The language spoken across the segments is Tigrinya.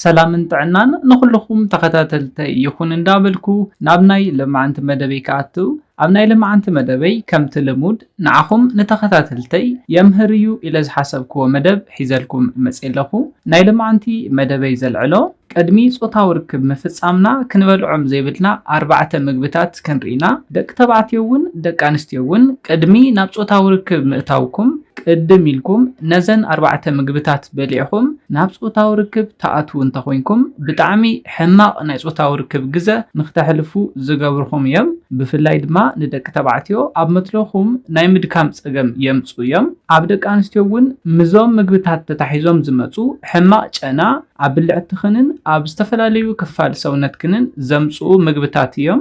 ሰላምን ጥዕናን ንኹሉኹም ተኸታተልተይ ይኹን እንዳበልኩ ናብ ናይ ልማዓንቲ መደበይ ክኣቱ ኣብ ናይ ልማዓንቲ መደበይ ከምቲ ልሙድ ንዓኹም ንተኸታተልተይ የምህር እዩ ኢለ ዝሓሰብክዎ መደብ ሒዘልኩም መፅየ ኣለኹ ናይ ልማዓንቲ መደበይ ዘልዕሎ ቅድሚ ፆታዊ ርክብ ምፍፃምና ክንበልዖም ዘይብልና ኣርባዕተ ምግብታት ክንሪኢ ኢና ደቂ ተባዕትዮ እውን ደቂ ኣንስትዮ እውን ቅድሚ ናብ ፆታዊ ርክብ ምእታውኩም ቅድም ኢልኩም ነዘን ኣርባዕተ ምግብታት በሊዕኹም ናብ ጾታዊ ርክብ ትኣትዉ እንተኾይንኩም፣ ብጣዕሚ ሕማቕ ናይ ጾታዊ ርክብ ግዘ ንክተሕልፉ ዝገብርኹም እዮም። ብፍላይ ድማ ንደቂ ተባዕትዮ ኣብ መትሎኹም ናይ ምድካም ጸገም የምጽኡ እዮም። ኣብ ደቂ ኣንስትዮ እውን ምስዞም ምግብታት ተታሒዞም ዝመጹ ሕማቕ ጨና ኣብ ብልዕትኽንን ኣብ ዝተፈላለዩ ክፋል ሰውነትክንን ዘምጽኡ ምግብታት እዮም።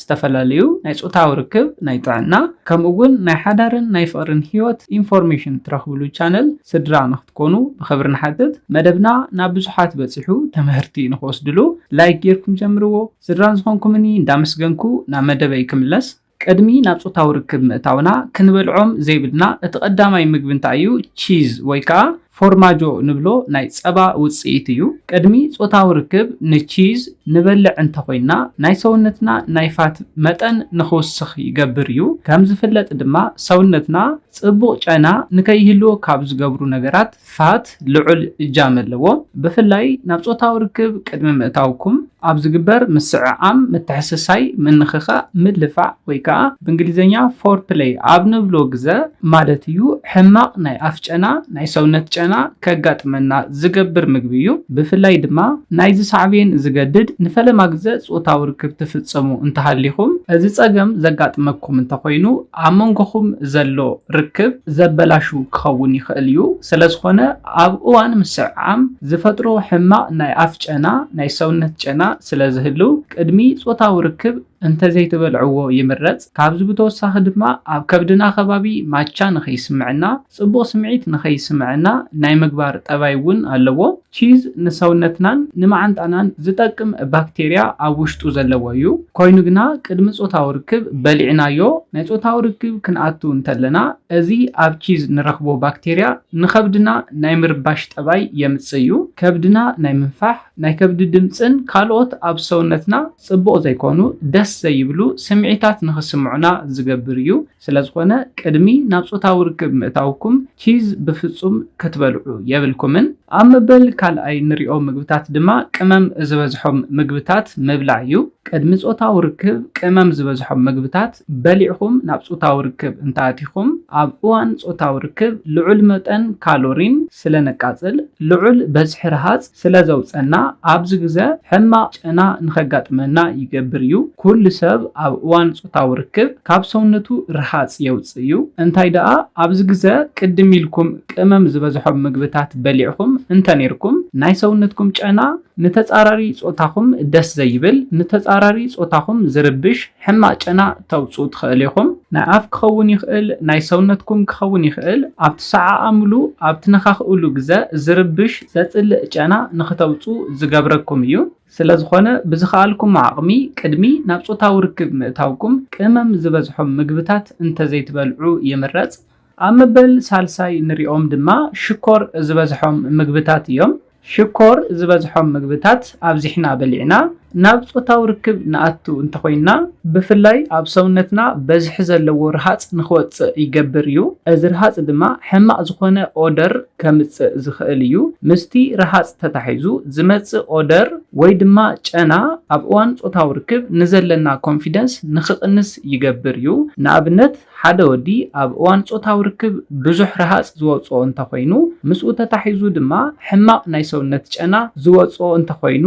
ዝተፈላለዩ ናይ ጾታዊ ርክብ፣ ናይ ጥዕና፣ ከምኡ እውን ናይ ሓዳርን ናይ ፍቕርን ህይወት ኢንፎርሜሽን ትረኽብሉ ቻነል ስድራ ንክትኮኑ ብኽብሪ ንሓትት። መደብና ናብ ብዙሓት በጺሑ ትምህርቲ ንክወስድሉ ላይክ ጌርኩም ጀምርዎ። ስድራን ዝኾንኩምኒ እንዳመስገንኩ ናብ መደበይ ክምለስ። ቅድሚ ናብ ጾታዊ ርክብ ምእታውና ክንበልዖም ዘይብልና እቲ ቀዳማይ ምግቢ እንታይ እዩ? ቺዝ ወይ ከኣ ፎርማጆ ንብሎ ናይ ጸባ ውጽኢት እዩ። ቅድሚ ጾታዊ ርክብ ንቺዝ ንበልዕ እንተኾይንና ናይ ሰውነትና ናይ ፋት መጠን ንኽውስኽ ይገብር እዩ። ከም ዝፍለጥ ድማ ሰውነትና ጽቡቕ ጨና ንከይህልዎ ካብ ዝገብሩ ነገራት ፋት ልዑል እጃም ኣለዎ። ብፍላይ ናብ ጾታዊ ርክብ ቅድሚ ምእታውኩም። ኣብ ዝግበር ምስዕዓም፣ ምትሕስሳይ፣ ምንኽኻእ፣ ምልፋዕ ወይ ከኣ ብእንግሊዝኛ Foreplay ኣብ ንብሎ ግዘ ማለት እዩ ሕማቕ ናይ ኣፍ ጨና፣ ናይ ሰውነት ጨና፣ ከጋጥመና ዝገብር ምግቢ እዩ። ብፍላይ ድማ ናይዚ ሳዕቤን ዝገድድ ንፈለማ ግዘ ጾታዊ ርክብ ትፍጸሙ እንተሃሊኹም፣ እዚ ጸገም ዘጋጥመኩም እንተኾይኑ ኣብ መንጎኹም ዘሎ ርክብ ዘበላሹ ክኸውን ይኽእል እዩ። ስለዝኾነ ኣብ እዋን ምስዕዓም ዝፈጥሮ ሕማቕ ናይ ኣፍ ጨና ናይ ሰውነት ጨና ስለ ዝህልው ቅድሚ ጾታዊ ርክብ እንተዘይትበልዕዎ ይምረጽ። ካብዚ ብተወሳኺ ድማ ኣብ ከብድና ከባቢ ማቻ ንኸይስምዕና፣ ጽቡቕ ስምዒት ንኸይስምዕና ናይ ምግባር ጠባይ እውን ኣለዎ። ቺዝ ንሰውነትናን ንመዓንጣናን ዝጠቅም ባክቴርያ ኣብ ውሽጡ ዘለዎ እዩ። ኮይኑ ግና ቅድሚ ጾታዊ ርክብ በሊዕናዮ ናይ ጾታዊ ርክብ ክንኣቱ እንተለና እዚ ኣብ ቺዝ ንረኽቦ ባክቴርያ ንኸብድና ናይ ምርባሽ ጠባይ የምጽእ እዩ። ከብድና ናይ ምንፋሕ፣ ናይ ከብዲ ድምጽን ካልኦት ኣብ ሰውነትና ጽቡቕ ዘይኮኑ፣ ደስ ዘይብሉ፣ ስምዒታት ንኽስምዑና ዝገብር እዩ። ስለዝኾነ ቅድሚ ናብ ጾታዊ ርክብ ምእታውኩም ቺዝ ብፍጹም ክትበልዑ የብልኩምን። ኣብ መበል ካልኣይ ንሪኦ ምግብታት ድማ ቅመም ዝበዝሖም ምግብታት ምብላዕ እዩ። ቅድሚ ጾታዊ ርክብ ቅመም ዝበዝሖም ምግብታት በሊዕኩም ናብ ጾታዊ ርክብ እንተኣቲኹም፣ ኣብ እዋን ጾታዊ ርክብ ልዑል መጠን ካሎሪን ስለ ነቃጽል፣ ልዑል በዝሒ ረሃጽ ስለ ዘውጸና፣ ኣብዚ ግዘ ሕማቕ ጨና ንኸጋጥመና ይገብር እዩ። ኩሉ ሰብ ኣብ እዋን ጾታዊ ርክብ ካብ ሰውነቱ ረሃጽ የውጽእ እዩ። እንታይ ደኣ ኣብዚ ግዘ ቅድም ኢልኩም ቅመም ዝበዝሖም ምግብታት በሊዕኹም እንተኔርኩም፣ ናይ ሰውነትኩም ጨና ንተጻራሪ ጾታኹም ደስ ዘይብል፣ ንተጻራሪ ጾታኹም ዝርብሽ ሕማቕ ጨና ተውጽኡ ትኸእል ኢኹም። ናይ ኣፍ ክኸውን ይኸእል፣ ናይ ሰውነትኩም ክኸውን ይኸእል፣ ኣብ ትሰዓዓምሉ፣ ኣብ ትነኻኽእሉ ግዘ ዝርብሽ ዘጽልእ ጨና ንክተውጽኡ ዝገብረኩም እዩ። ስለዝኾነ ብዝኸኣልኩሞ ዓቕሚ ቅድሚ ናብ ጾታዊ ርክብ ምእታውኩም ቅመም ዝበዝሖም ምግብታት እንተዘይትበልዑ ይምረጽ። ኣብ መበል ሳልሳይ እንሪኦም ድማ ሽኮር ዝበዝሖም ምግብታት እዮም። ሽኮር ዝበዝሖም ምግብታት ኣብዚሕና በሊዕና ናብ ፆታዊ ርክብ ንኣቱ እንተኾይንና፣ ብፍላይ ኣብ ሰውነትና በዝሒ ዘለዎ ርሃፅ ንክወፅእ ይገብር እዩ። እዚ ርሃፅ ድማ ሕማቕ ዝኾነ ኦደር ከምፅእ ዝኽእል እዩ። ምስቲ ርሃፅ ተታሒዙ ዝመፅእ ኦደር ወይ ድማ ጨና ኣብ እዋን ፆታዊ ርክብ ንዘለና ኮንፊደንስ ንክቕንስ ይገብር እዩ። ንኣብነት። ሓደ ወዲ ኣብ እዋን ጾታዊ ርክብ ብዙሕ ረሃጽ ዝወጽኦ እንተኾይኑ፣ ምስኡ ተታሒዙ ድማ ሕማቕ ናይ ሰውነት ጨና ዝወጽኦ እንተኾይኑ፣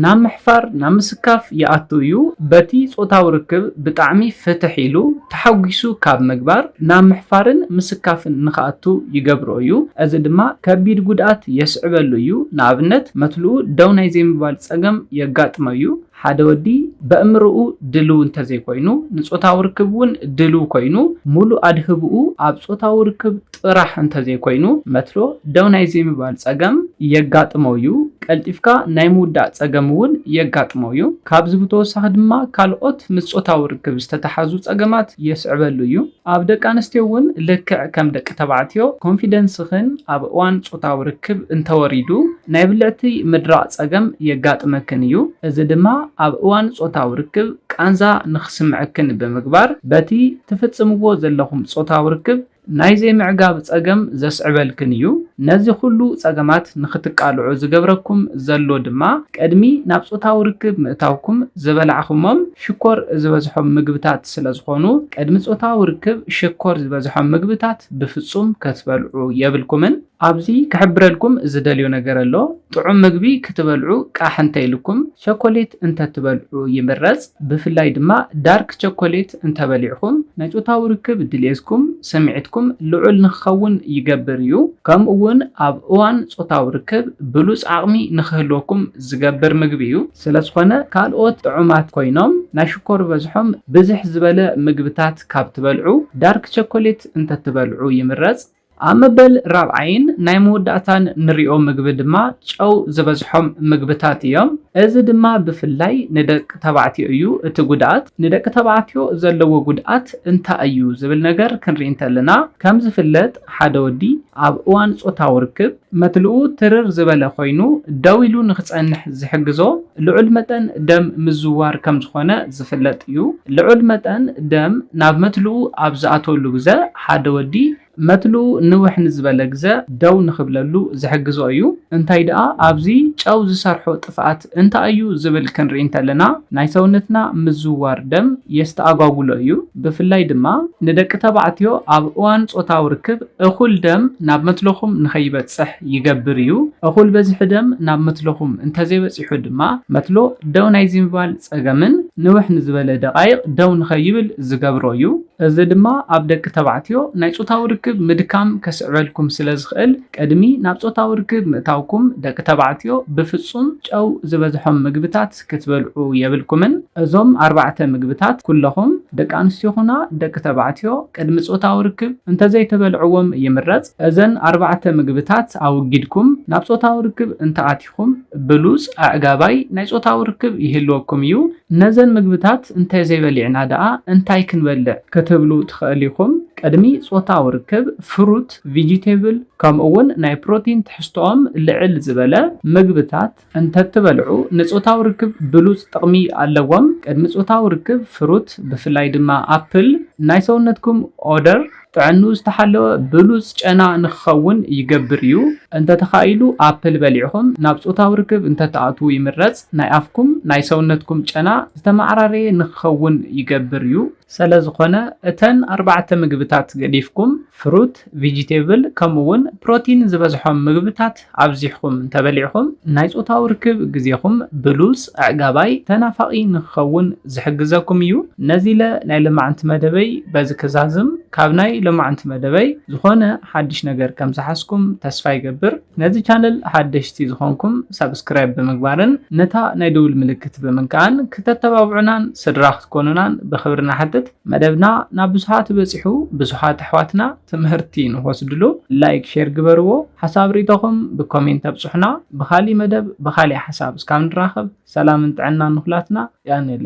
ናብ ምሕፋር፣ ናብ ምስካፍ ይኣቱ እዩ። በቲ ጾታዊ ርክብ ብጣዕሚ ፍትሕ ኢሉ፣ ተሓጒሱ ካብ ምግባር፣ ናብ ምሕፋርን ምስካፍን ንክኣቱ ይገብሮ እዩ። እዚ ድማ ከቢድ ጉድኣት የስዕበሉ እዩ፣ ንኣብነት መትልኡ ደው ናይ ዘይምባል ጸገም የጋጥሞ እዩ። ሓደ ወዲ በእምርኡ ድልው እንተዘይኮይኑ ንጾታዊ ርክብ እውን ድልው ኮይኑ ሙሉእ ኣድህብኡ ኣብ ጾታዊ ርክብ ጥራሕ እንተዘይኮይኑ መትሎ ደው ናይ ዘይምባል ጸገም የጋጥሞ እዩ። ቀልጢፍካ ናይ ምውዳእ ጸገም እውን የጋጥሞ እዩ። ካብዚ ብተወሳኺ ድማ ካልኦት ምስ ጾታዊ ርክብ ዝተተሓዙ ጸገማት የስዕበሉ እዩ። ኣብ ደቂ ኣንስትዮ እውን ልክዕ ከም ደቂ ተባዕትዮ ኮንፊደንስኽን ኣብ እዋን ጾታዊ ርክብ እንተወሪዱ ናይ ብልዕቲ ምድራቕ ጸገም የጋጥመክን እዩ። እዚ ድማ ኣብ እዋን ጾታዊ ርክብ ቃንዛ ንኽስምዐክን ብምግባር በቲ ትፍጽምዎ ዘለኹም ጾታዊ ርክብ ናይ ዘይምዕጋብ ጸገም ዘስዕበልክን እዩ። ነዚ ኹሉ ጸገማት ንኽትቃልዑ ዝገብረኩም ዘሎ ድማ ቅድሚ ናብ ጾታዊ ርክብ ምእታውኩም ዝበላዕኹሞም ሽኮር ዝበዝሖም ምግብታ ስለዝኾኑ ቅድሚ ጾታዊ ርክብ ሽኮር ዝበዝሖም ምግብታት ብፍጹም ከትበልዑ የብልኩምን። ኣብዚ ክሕብረልኩም ዝደልዮ ነገር ኣሎ፣ ጥዑም ምግቢ ክትበልዑ ቃሕ እንተኢሉኩም ቸኮሌት እንተትበልዑ ይምረጽ፣ ብፍላይ ድማ ዳርክ ቸኮሌት እንተበሊዕኹም ናይ ጾታዊ ርክብ ድሌትኩም፣ ስምዒትኩም፣ ልዑል ንክኸውን ይገብር እዩ። ከምኡ'ውን ኣብ እዋን ጾታዊ ርክብ ብሉጽ ዓቕሚ ንክህልወኩም ዝገብር ምግቢ እዩ። ስለዝኾነ ካልኦት ጥዑማት ኮይኖም ናይ ሽኮር በዝሖም ብዝሕ ዝበለ ምግብታት ካብ ትበልዑ ዳርክ ቸኮሌት እንተትበልዑ ይምረፅ። ኣብ መበል ራብዓይን ናይ መወዳእታን ንሪኦ ምግቢ ድማ ጨው ዝበዝሖም ምግብታት እዮም። እዚ ድማ ብፍላይ ንደቂ ተባዕትዮ እዩ እቲ ጉድኣት። ንደቂ ተባዕትዮ ዘለዎ ጉድኣት እንታይ እዩ ዝብል ነገር ክንሪኢ እንተለና ከም ዝፍለጥ ሓደ ወዲ ኣብ እዋን ፆታዊ ርክብ፣ መትልኡ ትርር ዝበለ ኮይኑ ደው ኢሉ ንክጸንሕ ዝሕግዞ ልዑል መጠን ደም ምዝዋር ከም ዝኾነ ዝፍለጥ እዩ። ልዑል መጠን ደም ናብ መትልኡ ኣብ ዝኣትወሉ ግዘ ሓደ ወዲ መትልኡ ንውሕ ንዝበለ ግዘ ደው ንክብለሉ ዝሕግዞ እዩ። እንታይ ድኣ ኣብዚ ጨው ዝሰርሖ ጥፍኣት እንታይ እዩ ዝብል ክንርኢ እንተለና ናይ ሰውነትና ምዝውዋር ደም የስተኣጓጉሎ እዩ። ብፍላይ ድማ ንደቂ ተባዕትዮ ኣብ እዋን ጾታዊ ርክብ እኹል ደም ናብ መትሎኹም ንኸይበጽሕ ይገብር እዩ። እኹል በዝሒ ደም ናብ መትሎኹም እንተዘይበጺሑ ድማ መትሎ ደው ናይ ዝይምባል ጸገምን ንውሕ ንዝበለ ደቓይቕ ደው ንኸይብል ዝገብሮ እዩ። እዚ ድማ ኣብ ደቂ ተባዕትዮ ናይ ጾታዊ ርክብ ምድካም ከስዕበልኩም ስለዝኽእል ቅድሚ ናብ ጾታዊ ርክብ ምእታውኩም ደቂ ተባዕትዮ ብፍጹም ጨው ዝበዝሖም ምግብታት ክትበልዑ የብልኩምን። እዞም ኣርባዕተ ምግብታት ኩለኹም ደቂ ኣንስትዮ ኹና ደቂ ተባዕትዮ ቅድሚ ጾታዊ ርክብ እንተዘይተበልዕዎም ይምረጽ። እዘን ኣርባዕተ ምግብታት ኣወጊድኩም ናብ ጾታዊ ርክብ እንተኣቲኹም ብሉጽ ኣዕጋባይ ናይ ጾታዊ ርክብ ይህልወኩም እዩ። ነዘን ምግብታት እንተዘይበሊዕና ደኣ እንታይ ክንበልዕ ክትብሉ ትኸእሉ ኢኹም። ቅድሚ ጾታዊ ርክብ ፍሩት፣ ቪጂቴብል ከምኡ'ውን ናይ ፕሮቲን ትሕዝቶኦም ልዕል ዝበለ ምግብታት እንተትበልዑ ንጾታዊ ርክብ ብሉጽ ጥቕሚ ኣለዎም። ቅድሚ ጾታዊ ርክብ ፍሩት ብፍላይ ድማ ኣፕል ናይ ሰውነትኩም ኦደር ጥዕንኡ ዝተሓለወ ብሉጽ ጨና ንክኸውን ይገብር እዩ። እንተተኻኢሉ ኣፕል በሊዕኹም ናብ ጾታዊ ርክብ እንተትኣትዉ ይምረጽ፣ ናይ ኣፍኩም ናይ ሰውነትኩም ጨና ዝተመዓራረየ ንክኸውን ይገብር እዩ። ሰለዝኾነ እተን ኣርባዕተ ምግብታት ገዲፍኩም ፍሩት፣ ቪጂቴብል ከምኡ'ውን ፕሮቲን ዝበዝሖም ምግብታት ኣብዚሕኹም እንተበሊዕኹም ናይ ጾታዊ ርክብ ግዜኹም ብሉጽ፣ ኣዕጋባይ፣ ተናፋቒ ንክኸውን ዝሕግዘኩም እዩ። ነዚለ ናይ ሎማዕንቲ መደበይ በዚ ክዛዝም፣ ካብ ናይ ሎማዕንቲ መደበይ ዝኾነ ሓድሽ ነገር ከምዝሓዝኩም ተስፋ ይገብር። ነዚ ቻነል ሓደሽቲ ዝኾንኩም ሳብስክራይብ ብምግባርን ነታ ናይ ደውል ምልክት ብምንካእን ክተተባብዑናን ስድራ ክትኮኑናን ብኽብሪ ንሓትት። መደብና ናብ ብዙሓት በጺሑ ብዙሓት ኣሕዋትና ትምህርቲ ንክወስድሉ ላይክ ሼር ግበርዎ ሓሳብ ሪኢቶኹም ብኮሜንት ኣብጹሑና ብኻሊእ መደብ ብኻሊእ ሓሳብ እስካብ ንራኸብ ሰላምን ጥዕናን ንኹላትና ያኔሌ።